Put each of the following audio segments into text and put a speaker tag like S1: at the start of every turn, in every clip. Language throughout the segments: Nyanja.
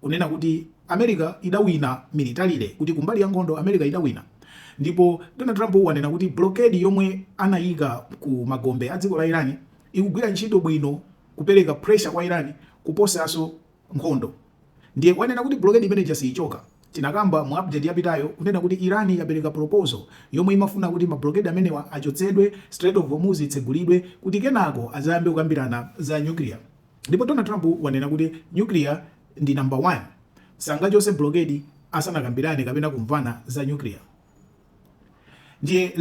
S1: kunena kuti America idawina militarily kuti kumbali ya nkhondo America idawina ndipo Donald Trump wanena kuti blockade yomwe anayika ku magombe a dziko la Iran ikugwira ntchito bwino kupereka pressure kwa Iran kuposaso nkhondo ndiye wanena kuti blockade imene ija siyichoka. Tinakamba mu update yapitayo kunena kuti Iran yapereka proposal yomwe imafuna kuti ma blockade amenewa achotsedwe, Strait of Hormuz itsegulidwe kuti kenako adzayambe kukambirana za nuclear. Ndipo Donald Trump wanena kuti nuclear ndi number one sangachose blockade asanakambirane kapena kumvana za nuclear. Ndiye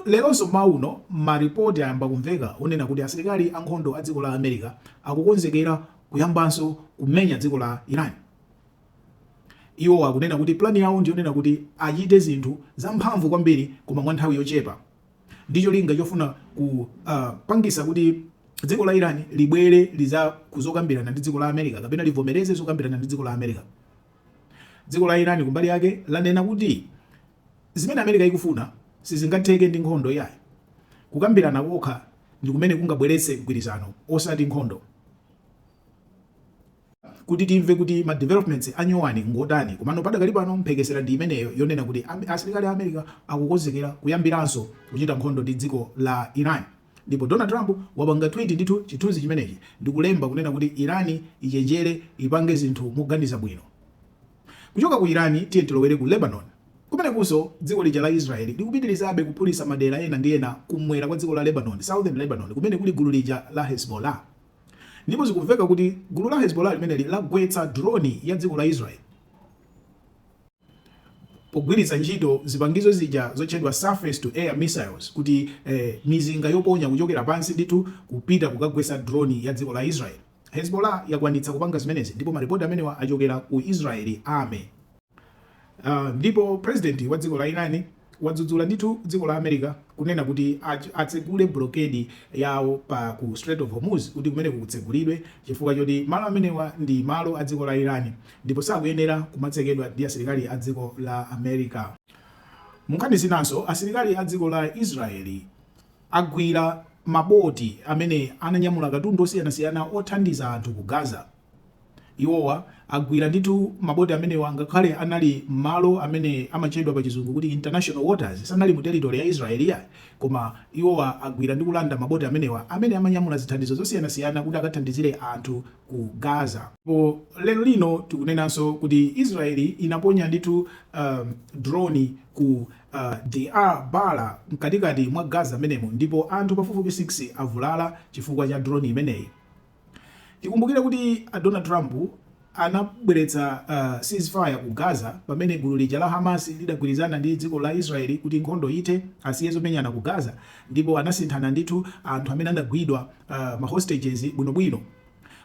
S1: leronso mmawa uno ma report ayamba kumveka onena kuti asilikali ankhondo a dziko la America akukonzekera kuyambanso kumenya dziko la Iran. Iwo akunena kuti plan yawo ndiyonena kuti achite zinthu zamphamvu kwambiri koma mwa nthawi yochepa. ndi cholinga chofuna kupangisa kuti dziko la Iran libwere liza kuzokambirana ndi dziko la America kapena livomereze zokambirana ndi dziko la America. Dziko la Iran kumbali yake lanena kuti zimene America ikufuna sizingatheke ndi nkhondo yayi. Kukambirana kokha ndi kumene kungabweretse mgwirizano osati nkhondo. kuti timve kuti ma developments anyowani ngotani komano padakali pano mphekesera ndi imeneyo yonena kuti asilikali a America akukonzekera kuyambiranso kuchita nkhondo ndi dziko la Iran ndipo Donald Trump wapanga tweet ndithu chithunzi chimenechi ndikulemba kunena kuti Iran ichenjere ipange zinthu moganiza bwino kuchoka ku Iran tiye tilowere ku Lebanon Kumenekunso, dziko lija la Israel likupitirizabe kuphulitsa madera ena ndi ena kumwera kwa dziko la Lebanon, Southern Lebanon, kumene kuli gulu lija la Hezbollah. Ndipo zikumveka kuti gulu la Hezbollah limeneli lagwetsa drone ya dziko la Israel pogwiritsa ntchito zipangizo zija zotchedwa surface to air missiles kuti mizinga yoponya kuchokera pansi ndithu kupita kukagwetsa drone ya dziko la Israel. Hezbollah yakwanitsa kupanga zimenezi ndipo maripoti amenewa achokera ku Israeli Army. Ndipo president wa dziko la Iran wadzudzula ndithu dziko la America kunena kuti atsegule blockade yawo pa ku Strait of Hormuz kuti kumeneku kutsegulidwe chifukwa choti malo amenewa ndi malo a dziko la Iran ndipo sakuyenera kumatsekedwa ndi asilikali a dziko la America. Munkhani zinanso asilikali a dziko la Israeli agwira maboti amene ananyamula katundu osiyanasiyana othandiza anthu ku Gaza. Iwowa agwira ndithu maboti amenewa ngakhale anali m'malo amene amatchedwa pa chizungu kuti international waters, sanali mu territory ya Israel iyayi, koma iwowa agwira ndi kulanda maboti amenewa amene amanyamula zithandizo zosiyanasiyana kuti akathandizire anthu ku Gaza. Ndipo lero lino tikunenanso kuti Israel inaponya ndithu drone ku Deir Balah mkatikati mwa Gaza m'menemo ndipo anthu pafupifupi 6 avulala chifukwa cha drone imeneyi. Tikumbukire kuti Donald Trump anabweretsa uh, ceasefire ku Gaza pamene gulu lija la Hamas lidagwirizana ndi dziko la Israeli kuti nkhondo ithe, asiye zomenyana ku Gaza ndipo anasinthana ndithu anthu amene anagwidwa uh, ma hostages bwinobwino.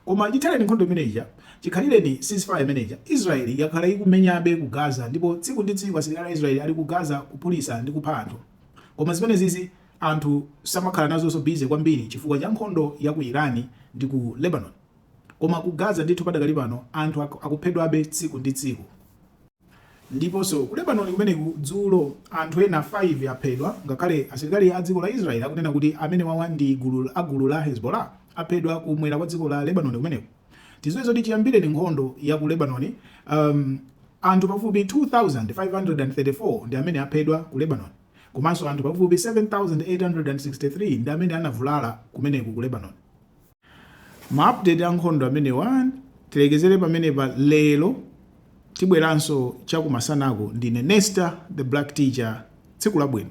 S1: Koma chithaleni nkhondo imeneja, chikhalireni ceasefire imeneja, Israeli yakhala ikumenyabe ku Gaza ndipo tsiku ndi tsiku asilikali a Israeli ali ku Gaza kuphulitsa ndi kupha anthu. Koma zimenezizi Anthu samakhala nazonso busy kwambiri chifukwa cha nkhondo ya ku Iran ndi ku Lebanon. Koma ku Gaza ndithu padakali pano anthu akuphedwabe tsiku ndi tsiku. Ndiponso ku Lebanon kumeneku dzulo anthu ena 5 aphedwa ngakhale asilikali a dziko la Israel akunena kuti amenewawa ndi a gulu la Hezbollah aphedwa kumwera kwa dziko la Lebanon kumeneku. Tidziwe zoti chiyambireni nkhondo ya ku Lebanon anthu pafupi 2,534 ndi amene aphedwa ku Lebanon. Komanso anthu pafupi 7,863 ndi amene anavulala kumeneku ku Lebanon. Ma update a nkhondo amenewa tilekezere pamenepa lero, tibweranso chakumasanako. Ndine Nestah the Black Teacher, tsiku labwino.